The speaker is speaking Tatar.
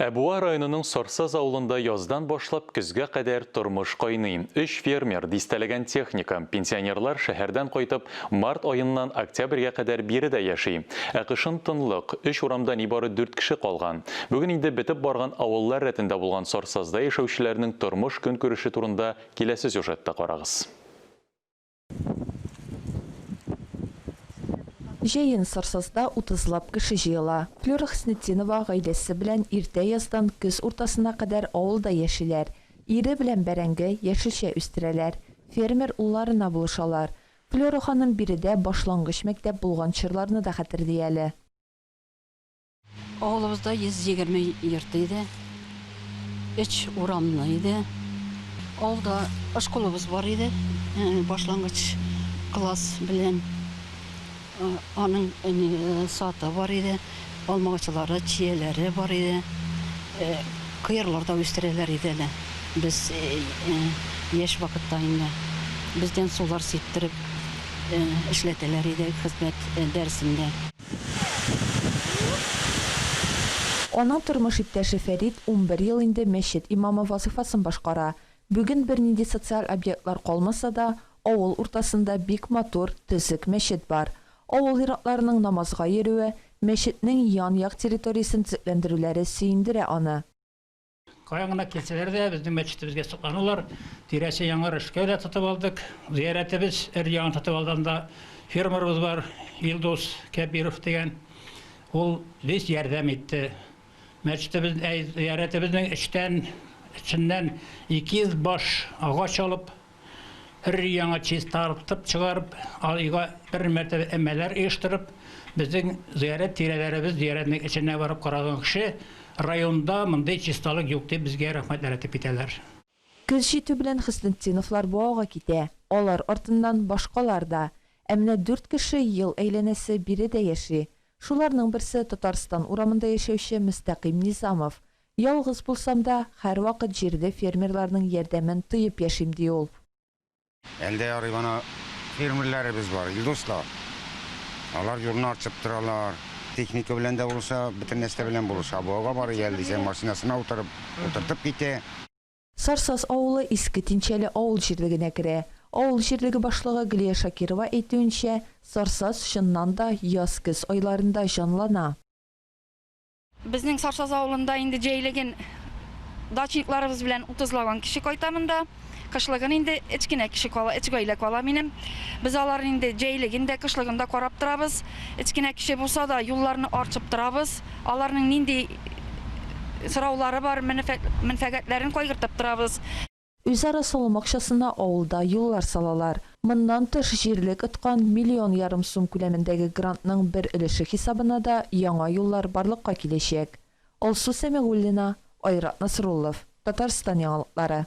Ә Буа районының Сарсаз авылында яздан башлап көзгә кадәр тормыш кайный. Өч фермер, дистәләгән техника, пенсионерлар шәһәрдән кайтып, март аеннан октябрьгә кадәр биредә яши. Ә кышын тынлык, өч урамда нибары дүрт кеше калган. Бүген инде бетеп барган авыллар рәтендә булган Сарсазда яшәүчеләрнең тормыш-көнкүреше турында киләсе сюжетта карагыз. Җәен Сарсазда утызлап кеше җыела. Флюра Хөснетдинова гаиләсе белән иртә яздан көз уртасына кадәр авылда яшиләр. Ире белән бәрәңге, яшелчә үстерәләр. Фермер улларына булышалар. Флюра ханым биредә башлангыч мәктәп булган чорларны да хәтерли әле. Авылыбызда 120 йорт иде. Өч урамлы иде. Авылда школабыз бар иде. Башлангыч класс белән аның саты бар иде. Алмагачлары, чияләре бар иде. Кыярлар да үстерәләр иде әле. Без яшь вакытта инде бездән сулар сиптереп эшләтәләр иде хезмәт дәресендә. Аның тормыш иптәше Фәрит унбер ел инде мәчет имамы вазыйфасын башкара. Бүген бернинди социаль объектлар калмаса да, авыл уртасында бик матур, төзек мәчет бар. Авыл ир-атларының намазга йөрүе, мәчетнең ян-як территориясен төзекләндерүләре сөендерә аны. Каян гына килсәләр дә, безнең мәчетебезгә сокланалар. Тирәсе яңар эшкә дә тотып алдык. Зыяратебез өр-яңа тотып алганда, фермерыбыз бар, Илдус Кәбиров дигән. Ул бик ярдәм итте. Мәчетебез, әй, зыяратебезнең эчтән, эченнән 200 баш агач алып, өр-яңа чистартып чыгарып, айга бер мәртәбә өмәләр оештырып, безнең зыярәт тирәләребез, зыяратның эченә барып караган кеше, районда мондый чисталык юк дип, безгә рәхмәтләр әйтеп китәләр. Көз җитү белән Хөснетдиновлар бу ауга китә, алар артыннан башкалар да. Ә менә дүрт кеше ел әйләнәсе биредә яши. Шуларның берсе, Татарстан урамында яшәүче Мөстәкыйм Низамов. Ялгыз булсам да, һәрвакыт җирле фермерларның ярдәмен тоеп яшим, ди ул. Әлдә ярый гына фермерләребез бар, Илдус та. Алар җурны арчып торалар. Техника белән дә булыша, бөтен нәрсә белән булыша. Буага барый әле дисәң, машинасына утырып, утыртып китә. Сарсаз авылы Иске Тинчәле авыл җирлегенә керә. Авыл җирлеге башлыгы Гөлия Шакирова әйтүенчә, Сарсаз, чыннан да, яз-көз айларында җанлана. Безнең Сарсаз авылында инде җәйлеген дачникларыбыз белән утызлаган кеше кайта монда. Кышлыгын инде өч кенә кеше кала, өч гаилә кала минем. Без аларны инде җәйлеген дә, кышлыгын да карап торабыз. Өч кенә кеше булса да, юлларны арчып торабыз. Аларның нинди сораулары бар, мәнфәгатьләрен кайгыртып торабыз. Үзара салым акчасына авылда юллар салалар. Моннан тыш, җирлек откан миллион ярым сум күләмендәге грантның бер өлеше хисабына да яңа юллар барлыкка киләчәк. Алсу Сәмигуллина, Айрат Насруллов, Татарстан яңалыклары.